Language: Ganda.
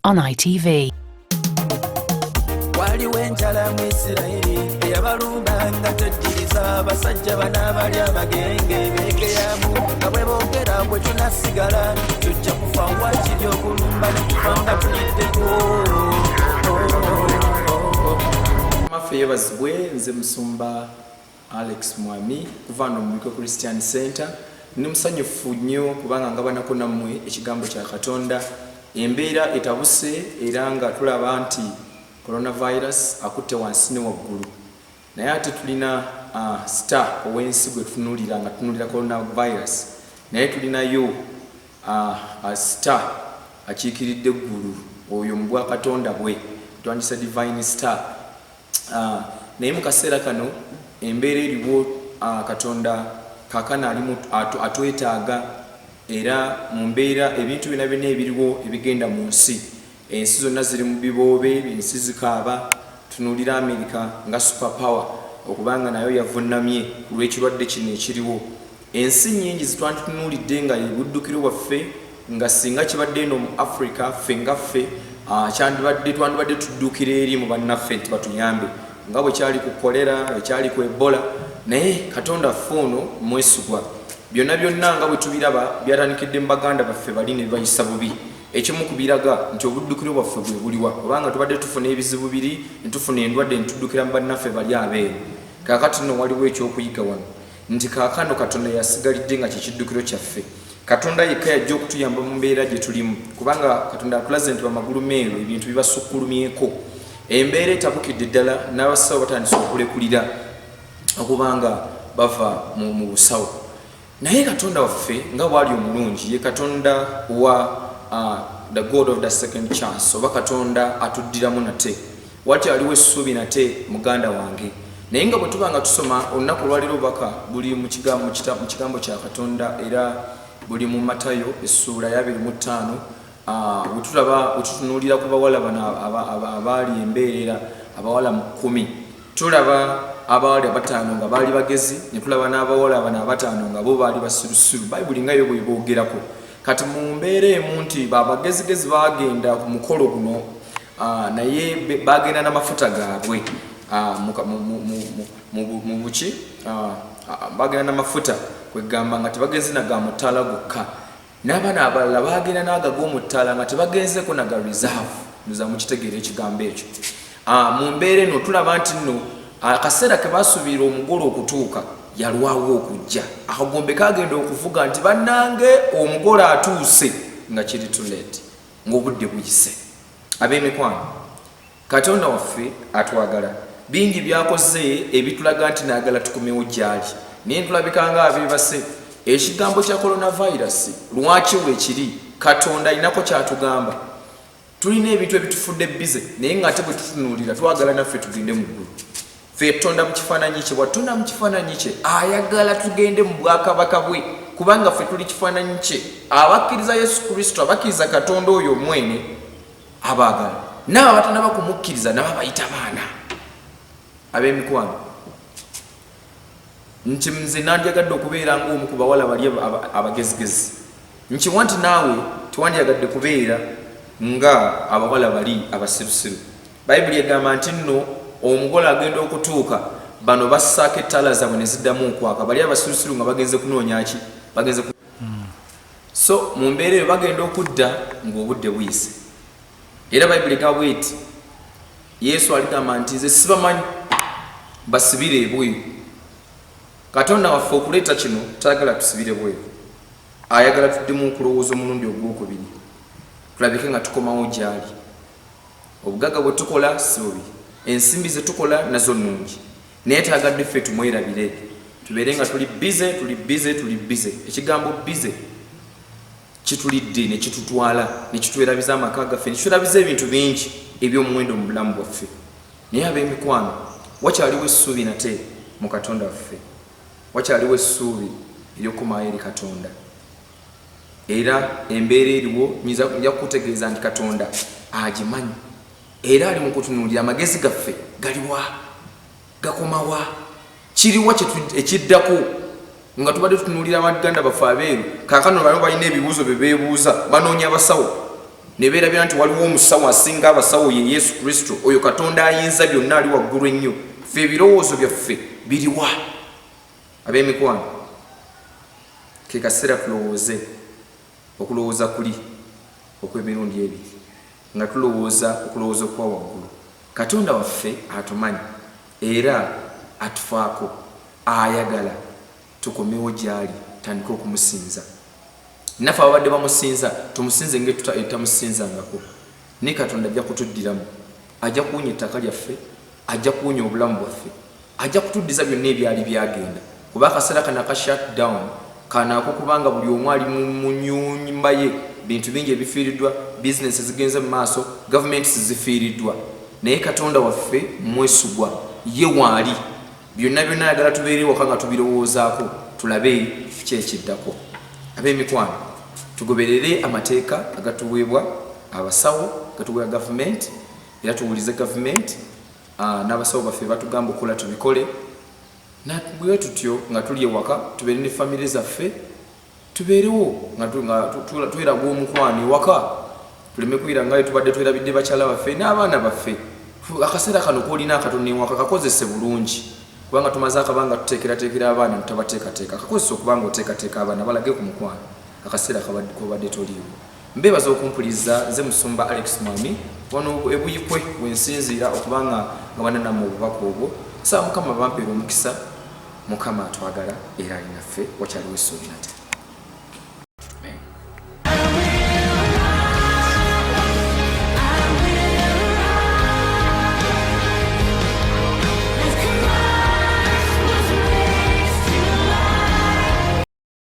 on ITV. waliwo enjala mu isirayiri eyabalumba nga tejjiriza abasajja bana abali abagenge begeyamu nga bwe boogera bwe tunasigala tujja kufa wakiri okulumba ne tufa nga tuliddeko maffe yebazibwe nze musumba Alex Mwami kuva wano mu Buikwe Christian Center. Ndi musanyufu nnyo kubanga ngabanako nammwe ekigambo kya Katonda. Embeera etabuse era nga tulaba nti Coronavirus akutte wansi ne waggulu. Naye ate tulina uh, star ow'ensi gwe tutunuulira nga tutunuulira Coronavirus. Naye tulinayo uh, uh, star akiikiridde eggulu oyo mu bwa Katonda bwe. Twandisa divine star. Ah, naye mu kaseera kano embeera eriwo ah, katonda kakana ali mu- atu- atwetaaga era mu mbeera ebintu byona byona ebiriwo ebigenda mu nsi ensi zonna ziri mu biboobe ensi zikaaba tunuulira amerika nga super power okubanga nayo yavunnamye ku lw'ekirwadde kino ekiriwo Ensi nnyingi zitwanditunuulidde nga ye buddukiro bwaffe nga singa kibadde eno mu Africa ffe nga ffe kyandibadde twandibadde tuddukira eri mu bannaffe nti batuyambe nga bwe kyali ku kolera ekyali ku ebola naye katonda ffe ono mwesigwa byonna byonna nga bwe tubiraba byatandikidde mu baganda baffe bali ne bibayisa bubi ekimu ku biraga nti obuddukiro bwaffe bwe buliwa kubanga tubadde tufuna ebizibu biri ne tufuna endwadde ne tuddukira mu bannaffe bali abeeru kakati nno waliwo ekyokuyiga wano nti kaakano katonda yasigalidde nga kyekiddukiro kyaffe katonda yekka yajja okutuyamba mu mbeera gye tulimu kubanga katonda atulaze nti bamagulu meeru ebintu bibasukkulumyeko embeera etabukidde ddala n'abasawo batandise okulekulira okubanga bava mu busawo naye katonda waffe nga waali omulungi ye katonda wa uh, the god of the second chance oba katonda atuddiramu nate Wakyaliwo essuubi nate, muganda wange. Naye nga bwe tuba nga tusoma olunaku olwaleero, obubaka buli mu kiga, mu kita, mu Kigambo kya Katonda, era buli mu Matayo, essuula y'abiri mu ttaano, a, we tulaba, we tutunuulira ku bawala bano aba, aba, abaali embeerera, abawala mu kkumi. Tulaba abaali abataano nga baali bagezi, ne tulaba n'abawala bano abataano nga bo baali basirusiru. Bayibuli nga yo bw'eboogerako. Kati mu mbeera emu nti ba bagezigezi baagenda ku mukolo guno, Ah, naye bagenda na mafuta gaabwe ah, mu buki ah, bagenda na mafuta kwegamba nga tebagenze na ga mutaala gokka n'abaana abalala bagenda naaga g'omutaala nga tebagenzeko na ga reserve nza mukitegeera ekigambo ekyo mu mbeera eno tulaba nti nno akaseera ke basuubirira omugole okutuuka yalwawo okujja akagombe kagenda okuvuga nti bannange omugole atuuse nga kiri tuleeti ng'obudde buyise. Ab'emikwano, Katonda waffe atwagala. Bingi by'akoze ebitulaga nti naagala tukomewo gy'ali, naye tulabika ng'abeebase. Ekigambo kya kolonavayirasi lwaki weekiri? Katonda alinako ky'atugamba. Tulina ebintu ebitufudde bbize, naye ng'ate bwe tutunuulira twagala naffe tugende mu ggulu. ffe yatutonda mu kifaananyi kye bwatutonda mu kifaananyi kye ayagala tugende mu bwakabaka bwe kubanga ffe tuli kifaananyi kye abakkiriza yesu kristo abakkiriza katonda oyo omwene abaagala naabo abatanaba kumukkiriza nabo abayita baana ab'emikwano nti nze nandyagadde okubeera ng'omu ku bawala bali abagezigezi nkiwa nti naawe tewandyagadde kubeera nga abawala bali abasirusiru bayibuli egamba nti nno omugole agenda okutuuka bano bassaako ettaala zaabwe ne ziddamu okwaka bali abasirusiru nga bagenze kunoonya ki bagenze so mu mbeera eyo bagenda okudda ng'obudde buyise Era Bayibuli egamba bw'eti, Yesu aligamba nti, Nze sibamanyi, basibire ebweru. Katonda waffe okuleeta kino tayagala tusibire bweru, ayagala tuddemu okulowooza omulundi ogw'okubiri, tulabike nga tukomawo gy'ali. Obugagga bwe tukola si bubi, ensimbi ze tukola nazo nnungi, naye taagadde ffe tumwerabire, tubeere nga tuli bize, tuli bize, tuli bize. Ekigambo bize. Kitulidde ne kitutwala, ne kitwerabiza amaka gaffe, ne kitwerabiza ebintu bingi eby'omuwendo mu bulamu bwaffe. Naye ab'emikwano, wakyaliwo essuubi nate mu Katonda waffe. Wakyaliwo essuubi ery'okukomawo eri Katonda. Era embeera eriwo, nja kukutegeeza nti Katonda agimanyi era ali mu kutunuulira. Amagezi gaffe galiwa? gakomawa kiriwa ekiddako nga tubadde tutunulira abaganda baffe abeeru kakano bano balina ebibuuzo byebebuuza banoonya abasawo nebeerabira nti waliwo omusawo asinga abasawo ye yesu kristo oyo katonda ayinza byonna ali waggulu ennyo fe ebirowoozo byaffe biriwa ab'emikwano ke kaseera tulowooze okulowooza kuli okw'emirundi ebiri Nga tulowooza okulowooza okwa waggulu, Katonda waffe atumanyi era atufaako. Ayagala tukomewo gy'ali tutandike okumusinza. Naffe ababadde bamusinza tumusinze engeri tutamusinzangako, naye Katonda ajja kutuddiramu. Ajja kuwonya ettaka lyaffe. Ajja kuwonya obulamu bwaffe. Ajja kutuddiza byonna ebyali byagenda, kuba akaseera kano aka shut down kanaako kubanga buli omu ali mu munyumba ye, bintu bingi ebifiiriddwa, business ezigenze mu maaso, governments zifiiriddwa naye Katonda waffe mwesigwa, ye waali byonna byonna ayagala tubeere ewaka nga tubirowoozaako tulabe ki ekiddako. Ab'emikwano tugoberere amateeka agatuweebwa abasawo, gatuweebwa government. Era tuwulize government ah, n'abasawo baffe batugamba okukola tubikole bwe tutyo nga tuli ewaka tubeere ne famire zaffe tubeerewo nga tweraga omukwano ewaka tuleme kuira ngayo tubadde twerabidde bakyala baffe n'abaana baffe akaseera kano kolina akatono ewaka kakozese bulungi kubanga tumaze akabanga tuteekerateekera abaana netabateekateeka kakozesa okubanga oteekateeka abaana balage ku mukwano akaseera kobadde toliiwo Mbeebaza okumpuliza nze musumba Alex Mwami wano e Buyikwe wensinziira okuba nga ngabana namwe obubaka obwo nsaba mukama bampere omukisa mukama atwagala era ali naffe wakyaliwo essuubi nate